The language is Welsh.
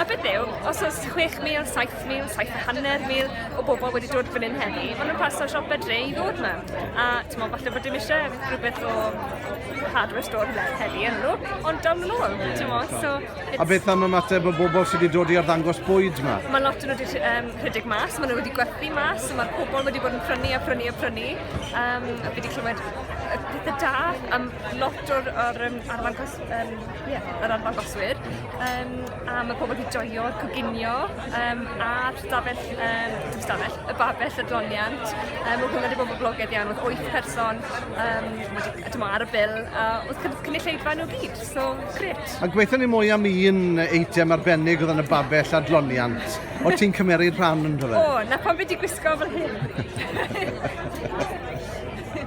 A beth yw, os oes 6,000, 7,000, 750,000 o bobl wedi dod fan hyn heddi, maen nhw'n pasio siop fedre i ddod yma. A ti'n meddwl, falle bod dim eisiau rhywbeth o hardware store le heddi yn nhw, ond down yn ôl, ti'n meddwl. So, A beth am y mater bod bobl sydd wedi dod i arddangos bwyd yma? Mae lot yn wedi um, rhedeg mas, maen nhw wedi gwerthu mas, so mae'r pobl wedi bod yn prynu a prynu a prynu. Um, a fi wedi clywed pethau da am lot o'r, or, um, arddangos, um, yeah, yr arddangoswyr. Yym a ma' pobol 'di joio coginio yym a'r stafell yym dim stafell y babell adloniant yym ma' hwnna 'di bod yn boblogedd iawn odd wyth person yym wedi yy t'mo' ar y bil a odd cyn- cynulleidfa n'w gyd so grêt. A gweutho ni mwy am un eitem arbennig odd yn y babell adloniant o' ti'n cymeryd rhan ynddo fe? O 'na pam fi 'di gwisgo fel hyn.